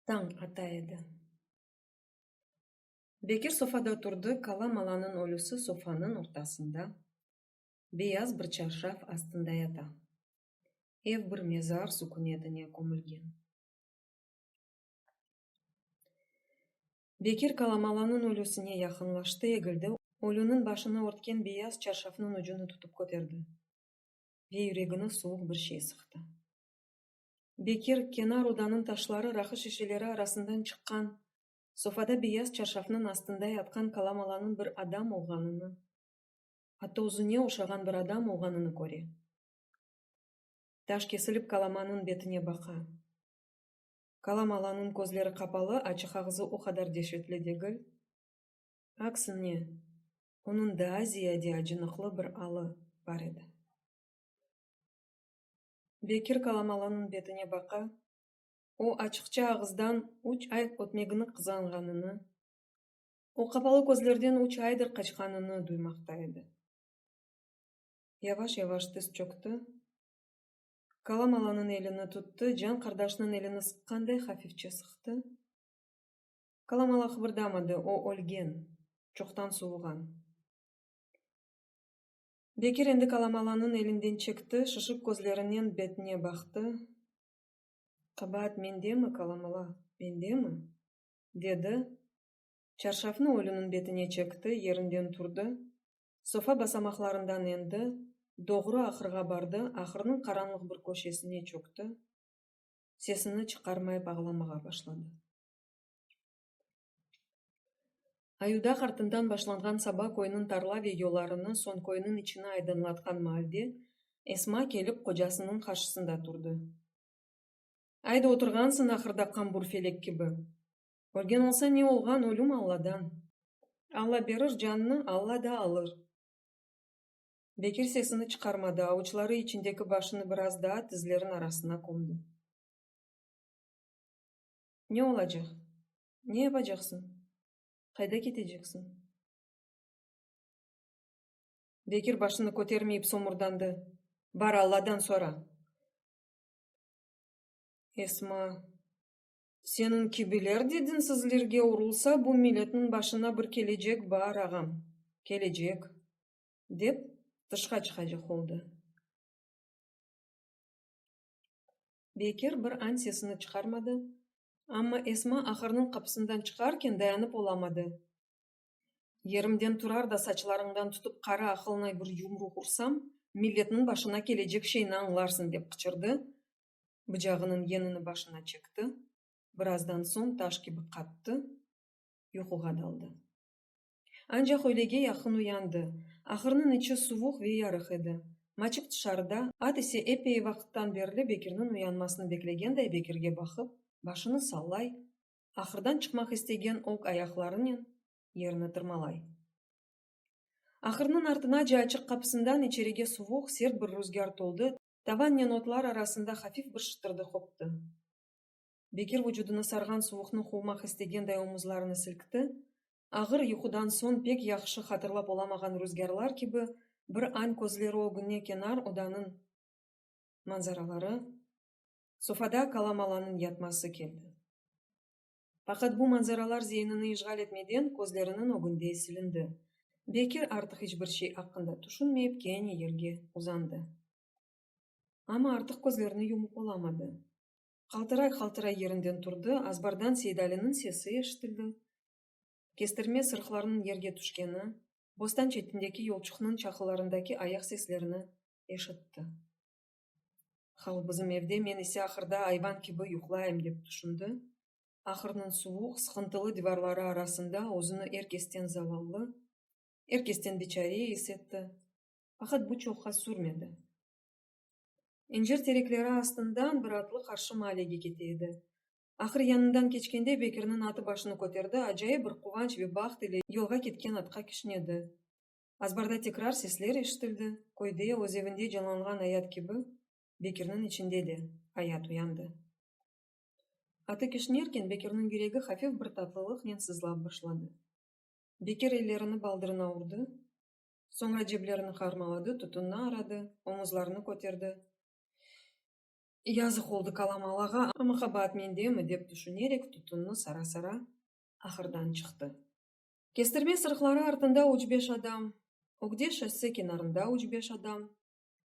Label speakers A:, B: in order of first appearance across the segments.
A: Tañ ata edi. Bekir sofada turdı, Kala malanıñ ölüsi sofanıñ ortasında, beyaz bir çarşaf astında yata. Ev bir mezar sükünetine kömülgen. Bekir Kalamalanıñ ölüsine yaqınlaştı, egildi, ölüniñ başını örtken beyaz çarşafnıñ ucunı tutıp köterdi ve yüregine suvuq bir şey sıqtı. Bekir, kenar odanıñ taşları, raqı şişeleri arasından çıqqan, sofada beyaz çarşafnıñ astında yatqan Kalamalanıñ bir adam olğanını, atta özüne oşağan bir adam olğanını köre. Taş kesilip Kalamanıñ betine baqa. Kalam Alanıñ közleri qapalı, açıq ağzı o qadar deşetli degil. Aksine, onıñ daa ziyade acınıqlı bir alı bar edi. Bekir Kalam Alanıñ betine baqa, o açıqça ağızdan üç ay ötmegini qızğanğanını, o qapalı közlerden üç aydır qaçqanını duymaqta edi. Yavaş-yavaş tiz çöktü, Kalam alanıñ elini tuttı, can qardaşnıñ elini sıqqanday hafifçe sıqtı. Kalam ala qıbırdamadı, o ölgen, çoqtan suvğan. Bekir endi Kalam alanıñ elinden çekti, şışıq közlerinen betine baqtı. Qabaat mendemi, Kalam ala, mendemi? dedi. Çarşafnı ölüniñ betine çekti, yerinden turdı, sofa basamaqlarından endi, doğru ahırğa bardı, ahırnıñ qaranlıq bir köşesine çökti, sesini çıqarmayıp ağlamağa başladı. Ayudak artından başlanğan saba köyniñ tarla ve yollarını soñ köyniñ içini aydınlatqan maalde Esma kelip qocasınıñ qarşısında turdı. Ayda oturğansıñ ahırda qambur felek kibi! Ölgen olsa ne olğan, ölüm Alladan. Alla berir cannı, Alla da alır. Bekir sesini çıqarmadı, avuçları içindeki başını biraz daa tizlerin arasına kömdi. Ne olacaq? Ne yapacaqsıñ? Qayda keteceksiñ? Bekir başını kötermeyip somurdandı. Bar, Alladan sora! Esma Seniñ kibiler de dinsizlerge urulsa, bu milletniñ başına bir kelecek bar, ağam, kelecek, dep tışqa çıqacaq oldı. Bekir bir an sesini çıqarmadı, amma Esma ahırnıñ qapısından çıqarken dayanıp olamadı, Yerimden turar da saçlarıñdan tutıp qara aqılnay bir yumruq ursam, milletniñ başına kelecek şeyni añlarsıñ, dep qıçırdı, bıcağınıñ yenini başına çekti, birazdan soñ taş kibi qattı, yuquğa daldı. Ancaq öylege yaqın uyandı. Ahırnıñ içi suvuq ve yarıq edi. Maçık tışarıda, at ise epey vaqıttan berli Bekirniñ uyanmasını beklegenday Bekirge baqıp, başını sallay, ahırdan çıqmaq istegen oq ayaqlarınen yerini tırmalay. Ahırnıñ artınace açıq qapısından içerige suvuq, sert bir ruzgâr toldı, Tavannen otlar arasında hafif bir şıtırdı qoptı. Bekir vucudını sarğan suvuqnı quvmaq istegenday omuzlarını silkti, ağır yuqudan soñ pek yahşı hatırlap olamağan ruzgârlar kibi bir añ közleri ögüne kenar odanıñ manzaraları, sofada kalamalanıñ yatması keldi. Faqat bu manzaralar zeynini işğal etmeden közleriniñ ögünde silindi. Bekir artıq iç bir şey aqqında tüşünmeyip kene yerge uzandı. Amma artıq közlerini yumup olamadı. Qaltıray-qaltıray yerinden turdı, azbardan Seydaliniñ sesi eşitildi, kestirme sırıqlarnıñ yerge tüşkeni, bostan çetindeki yolçuqnıñ çaqılarındaki ayaq seslerini eşitti. Hal bizim evde, men ise ahırda ayvan kibi yuqlayım, dep tüşündi. Ahırnıñ suvuq, sıqıntılı divarları arasında özüni er kesten zavallı, er kesten biçare is etti. Faqat bu çoqqa sürmedi. İncir terekleri astından bir atlı qarşı maalege kete edi. Ahır yanından keçkende Bekirniñ atı başını köterdi, acayip bir quvanç ve baht ile yolğa ketken atqa kişnedi. Azbarda tekrar sesler eşitildi, köyde, öz evinde canlanğan ayat kibi, Bekirniñ içinde de ayat uyandı. Atı kişnerken Bekirniñ yüregi hafif bir tatlılıqnen sızlap başladı. Bekir ellerini baldırına urdı, soñra ceblerini harmaladı, tutunna aradı, omuzlarını köterdi. Yazıq oldı Kalamalağa, amma qabaat mendemi, dep tüşünerek tutunnı sara-sara ahırdan çıqtı. Kestirme sırıqları artında üç beş adam, ögde şosse kenarında üç beş adam,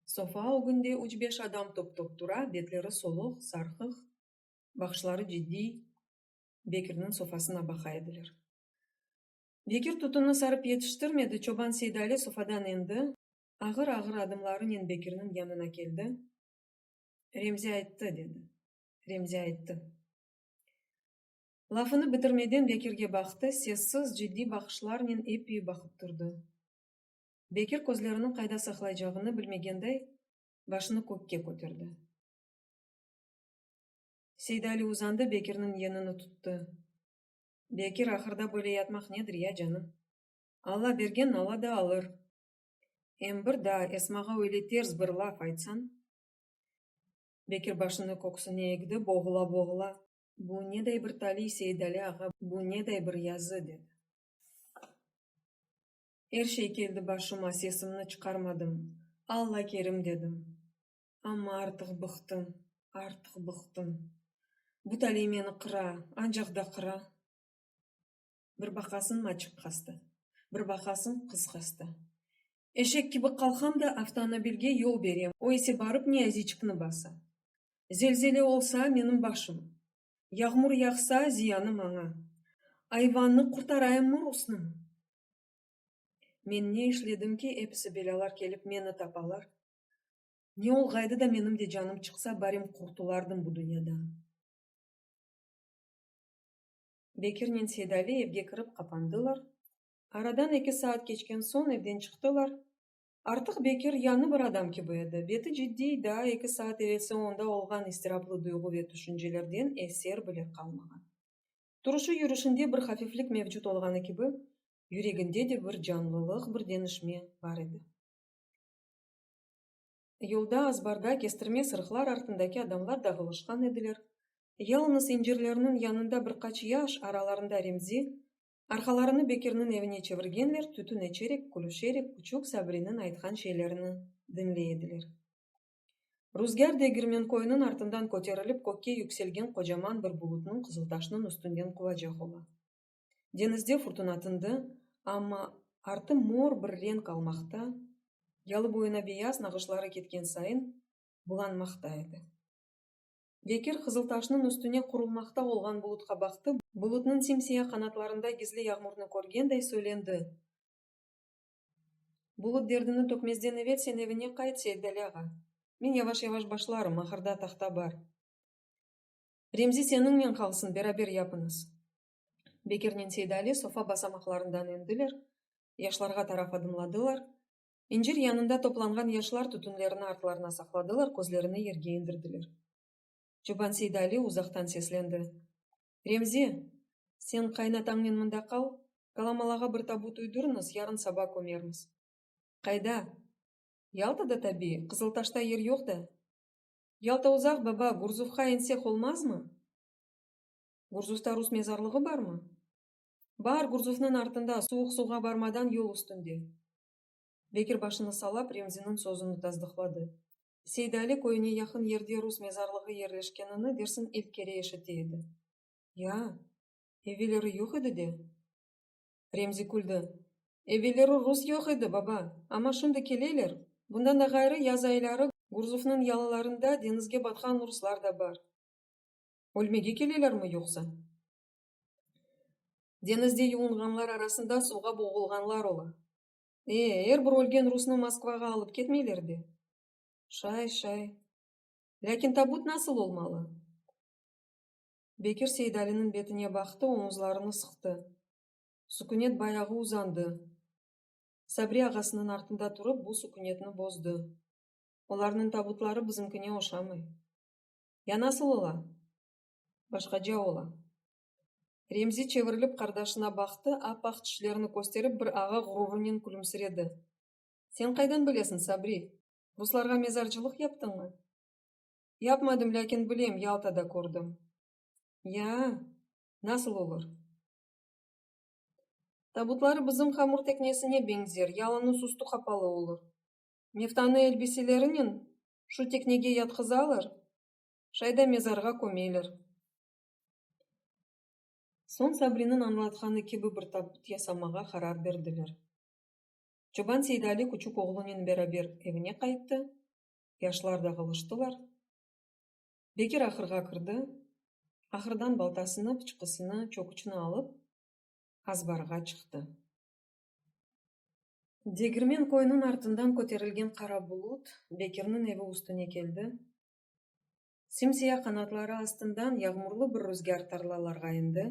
A: sofa ögünde üç beş adam top-top tura, betleri soluq, sarqıq, baqışları ciddiy Bekirniñ sofasına baqa ediler. Bekir tutunı sarıp yetiştirmedi, çoban Seydali sofadan endi, ağır-ağır adımlarınen Bekirniñ yanına keldi, Remzi ayttı, dedi, Remzi ayttı. Lafını bitirmeden Bekirge baqtı, sessiz, ciddiy baqışlarnen eppiy baqıp turdı. Bekir közleriniñ qayda saqlaycağını bilmegenday, başını kökke köterdi. Seydali uzandı, Bekirniñ yenini tuttı. Bekir, ahırda böyle yatmaq nedir ya, canım? Alla bergen Alla da alır. Em bir daa Esmağa öyle ters bir laf aytsañ? Bekir başını köksüne egdi, boğula-boğula. Bu neday bir taliy, Seidali ağa, bu neday bir yazı, dedi. Er şey keldi başıma, sesimni çıqarmadım. Alla kerim, dedim. Amma artıq bıqtım, artıq bıqtım. Bu taliy meni qıra, ancaq da qıra. Bir baqasıñ, maçıq hasta. Bir baqasıñ, qız hasta. Eşek kibi qalqam da, avtonobilge yol berem, o ise barıp Niyaziçkni basa. Zelzele olsa, menim başım. Yağmur yağsa, ziyanı maña. Ayvannı qurtarayımmı, rusnımı? Men ne işledim ki, episi belâlar kelip meni tapalar? Ne olğaydı da menim de canım çıqsa, barim qurtulardım bu dünyadan. Bekirnen Seydali evge kirip qapandılar. Aradan eki saat keçken soñ evden çıqtılar. Artıq Bekir yañı bir adam kibi edi. Beti ciddiy, daa eki saat evelsi onda olğan istiraplı duyğu ve tüşüncelerden eser bile qalmağan. Turışı-yürüşinde bir hafiflik mevcut olğanı kibi, yüreginde de bir canlılıq, bir denişme bar edi. Yolda, azbarda, kestirme sırıqlar artındaki adamlar dağılışqan ediler. Yalınız incirlerniñ yanında bir qaç yaş, aralarında Remzi, arqalarını Bekirniñ evine çevirgenler, tütün eçerek, külüşerek, küçük Sabriniñ aytqan şeylerini diñley ediler. Ruzgâr Degirmenkoynıñ artından köterilip kökke yükselgen qocaman bir bulutnıñ Qızıltaşnıñ üstünden quvacaq ola. Deñizde furtuna tındı, amma artı mor bir renk almaqta, yalı boyuna beyaz nağışları ketken sayın bulanmaqta edi. Bekir Qızıltaşnıñ üstüne qurulmaqta olğan bulutqa baqtı, bulutnıñ sim-siyah qanatlarında gizli yağmurnı körgenday söylendi, Bulut derdini tökmezden evel sen evine qayt, Seiddali ağa. Men yavaş-yavaş başlarım, ahırda tahta bar. Remzi seniñnen qalsın, beraber yapıñız. Bekirnen Seydali sofa basamaqlarından endiler, yaşlarğa taraf adımladılar. İncir yanında toplanğan yaşlar tütünlerini artlarına saqladılar, közlerini yerge indirdiler. Çoban Seydali uzaqtan seslendi, Remzi, sen qaynatañnen mında qal, Kalamalağa bir tabut uydurıñız, yarın saba kömermiz. Qayda? Yaltada tabii, Qızıltaşta yer yoq da. Yalta uzaq, baba, Gurzufqa insek olmazmı? Gurzusta rus mezarlığı barmı? Bar, Gurzusnıñ artında, suvuq suvğa barmadan yol üstünde. Bekir başını salap, Remziniñ sözüni tasdıqladı. Seydali köyüne yaqın yerde rus mezarlığı yerleşkenini dersiñ ilk kere eşite edi. Ya, evelleri yoq edi de? Remzi küldi. Evelleri rus yoq edi, baba, amma şimdi keleler. Bundan da ğayrı, yaz ayları Gurzusnıñ yalılarında deñizge batqan ruslar da bar. Ölmege kelelermi yoqsa? Deñizde yuvinğanlar arasında suvğa boğulğanlar ola. E, er bir ölgen rusnı Moskvağa alıp ketmeyler be? Şay, şay. Lâkin tabut nasıl olmalı? Bekir Seydaliniñ betine baqtı, oñuzlarını sıqtı. Sukünet bayağı uzandı. Sabri ağasınıñ artında turıp, bu sukünetni bozdı. Olarnıñ tabutları bizimkine oşamay. Ya nasıl ola? Başqaca ola. Remzi çevirilip qardaşına baqtı, ap-aq tişlerini kösterip bir ağa ğururunen külümsiredi. Sen qaydan bilesiñ, Sabri? Ruslarğa mezarcılıq yaptıñmı? Yapmadım, lâkin bilem, Yaltada kördim. Ya, nasıl olur? Tabutları bizim hamur teknesine beñzer, yalıñız üstü qapalı olur. Meftanıy elbiselerinen şu teknege yatqızalar, şay da mezarğa kömeler. Soñ Sabriniñ añlatqanı kibi bir tabut yasamağa qarar berdiler. Çoban Seydali küçük oğlunen beraber evine qayttı, yaşlar dağılıştılar. Bekir ahırğa kirdi, ahırdan baltasını, pıçqısını, çöküçni alıp, azbarğa çıqtı. Degirmen köyüniñ artından köterilgen qara bulut Bekirniñ evi üstüne keldi. Sim-siya qanatları astından yağmurlı bir rüzgâr tarlalarğa endi.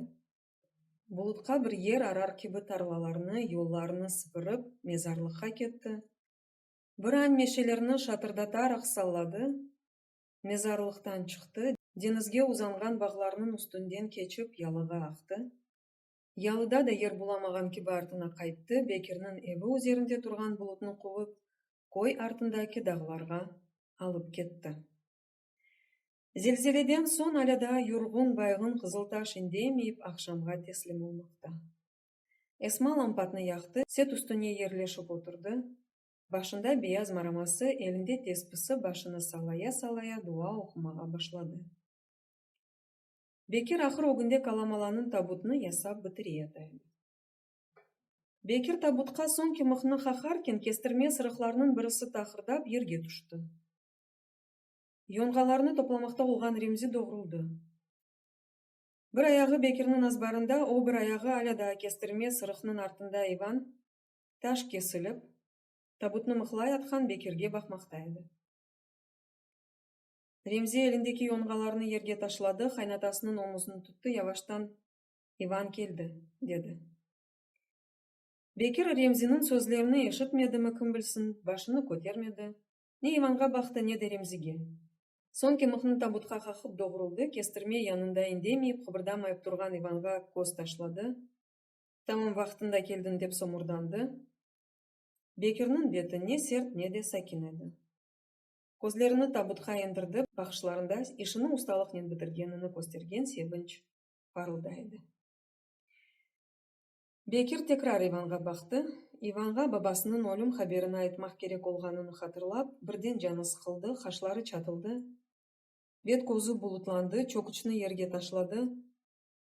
A: Bulutqa bir yer arar kibi tarlalarnı, yollarnı sıpırıp, mezarlıqqa ketti. Bir añ meşelerini şatırdataraq salladı, mezarlıqtan çıqtı, deñizge uzanğan bağlarnıñ üstünden keçip, yalığa aqtı. Yalıda da yer bulamağan kibi artına qayttı, Bekirniñ evi üzerinde turğan bulutnı quvıp, köy artındaki dağlarğa alıp ketti. Zelzeleden soñ alâ daa yurğun, bayğın Qızıltaş indemeyip, aqşamğa teslim olmaqta. Esma lampatnı yaqtı, set üstüne yerleşip oturdı, başında beyaz maraması, elinde tespisi başını sallaya-sallaya dua oqumağa başladı. Bekir ahır ögünde Kalamalanıñ tabutını yasap bitire ataydı. Bekir tabutqa soñki mıhnı qaharken, kestirme sırıqlarnıñ birisi taqırdap yerge tüşti. Yonğalarnı toplamaqta olğan Remzi doğruldı. Bir ayağı Bekirniñ azbarında, o bir ayağı alâ daa kestirme sırıqnıñ artında Ivan, taş kesilip, tabutnı mıhlay atqan Bekirge baqmaqta edi. Remzi elindeki yonğalarını yerge taşladı, qaynatasınıñ omuzını tuttı, yavaştan, İvan keldi, dedi. Bekir Remziniñ sözlerini eşitmedimi, kim bilsin, başını kötermedi, ne İvanğa baqtı, ne de Remzige. Soñ ki mıhnı tabutqa qaqıp doğruldı, kestirme yanında indemeyip, qıbırdamayıp turğan İvanğa köz taşladı, tamam vaqtında keldiñ, dep somurdandı. Bekirniñ beti ne sert, ne de sakin edi. Közlerini tabutqa endirdi, baqışlarında işini ustalıqnen bitirgenini köstergen sevinç parılda edi. Bekir tekrar İvanğa baqtı. İvanğa babasınıñ ölüm haberini aytmaq kerek olğanını hatırlap, birden canı sıqıldı, qaşları çatıldı, bet-közü bulutlandı, çöküçni yerge taşladı,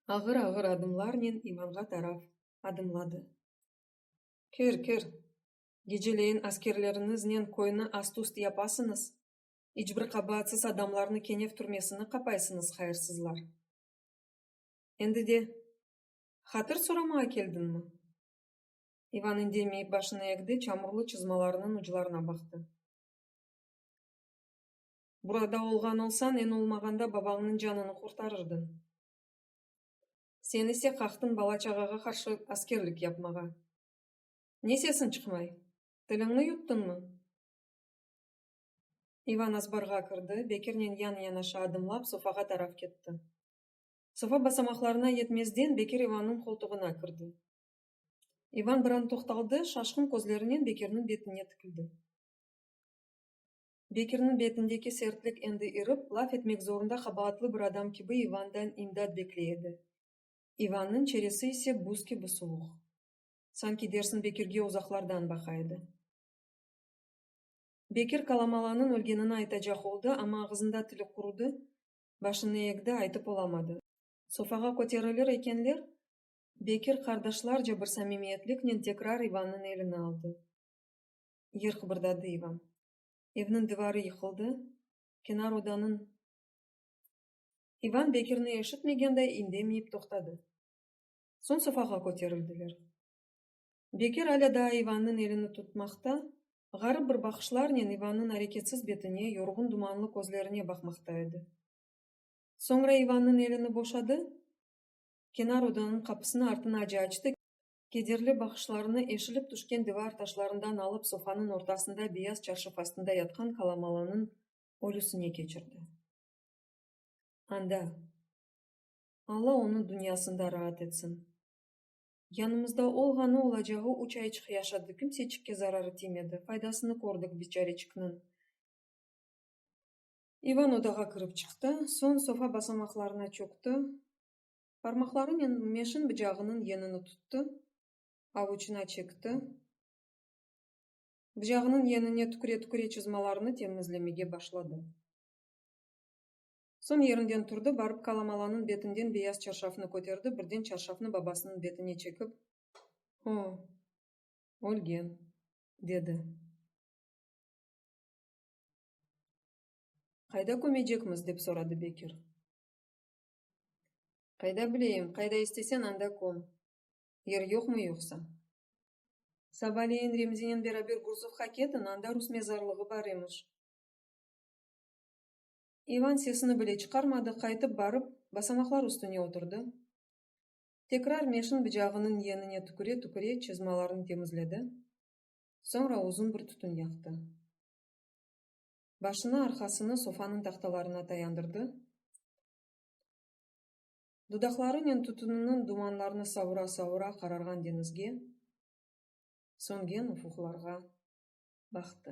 A: ağır-ağır adımlarnen İvanğa taraf adımladı. Kir, kir! geceleyin askerleriñiznen köyni ast-üst yapasıñız, iç bir qabaatsız adamlarnı Kenev türmesine qapaysıñız, hayırsızlar! Endi de hatır soramağa keldiñmi? İvan indemeyip başını egdi, çamurlı çızmalarınıñ uclarına baqtı. Burada olğan olsañ, eñ olmağanda babañnıñ canını qurtarırdıñ. Sen ise qaqtıñ bala-çağağa qarşı askerlik yapmağa. Ne sesiñ çıqmay? Tiliñni yuttıñmı? İvan azbarğa kirdi, Bekirnen yan-yanaşa adımlap sofağa taraf ketti. Sofa basamaqlarına yetmezden Bekir İvannıñ qoltuğına kirdi. İvan bir an toqtaldı, şaşqın közlerinen Bekirniñ betine tikildi. Bekirniñ betindeki sertlik endi irip, laf etmek zorunda qabaatlı bir adam kibi İvandan imdat bekley edi. İvannıñ çeresi ise buz kibi suvuq. Sanki dersin Bekirge uzaqlardan baqa edi. Bekir Kalamalanıñ ölgenini aytacaq oldı, amma ağızında tili qurudı, başını egdi, aytıp olamadı. Sofağa köterilir ekenler, Bekir qardaşlarca bir samimiyetliknen tekrar İvannıñ elini aldı. Yer qıbırdadı İvan. Evniñ divarı yıqıldı, kenar odanıñ. İvan Bekirni eşitmegenday indemeyip toqtadı. Soñ safağa köterildiler. Bekir alâ daa İvannıñ elini tutmaqta, ğarip bir baqışlarnen İvannıñ areketsiz betine, yorğun dumanlı közlerine baqmaqta edi. Soñra İvannıñ elini boşadı, kenar odanıñ qapısını artına ace açtı, kederli baqışlarını eşilip tüşken divar taşlarından alıp sofanıñ ortasında beyaz çarşaf astında yatqan Kalamalanıñ ölüsine keçirdi. Anda. Alla onı dünyasında raat etsin. Yanımızda olğanı olacağı üç ayçıq yaşadı, kimseçikke zararı tiymedi, faydasını kördik biçareçikniñ. İvan odağa kirip çıqtı, soñ sofa basamaqlarına çökti, parmaqlarınen meşin bıcağınıñ yenini tuttı, avuçına çekti, bıcağınıñ yenine tüküre-tüküre çızmalarını temizlemege başladı. Soñ yerinden turdı, barıp Kalamalanıñ betinden beyaz çarşafnı köterdi, birden çarşafnı babasınıñ betine çekip. O, ölgen, dedi. Qayda kömecekmiz? dep soradı Bekir. Qayda bileyim, qayda istesen, anda köm. Yer yoqmı yoqsa? Sabaleyin Remzinen beraber Gurzovğa ketiñ, anda rus mezarlığı bar emiş. İvan sesini bile çıqarmadı, qaytıp barıp, basamaqlar üstüne oturdı. Tekrar meşin bıcağınıñ yenine tüküre-tüküre çızmalarını temizledi. Soñra uzun bir tütün yaqtı. Başını, arqasını sofanıñ tahtalarına tayandırdı. Dudaqlarınen tütüniniñ dumanlarını savura-savura qararğan deñizge, söngen ufuqlarğa baqtı.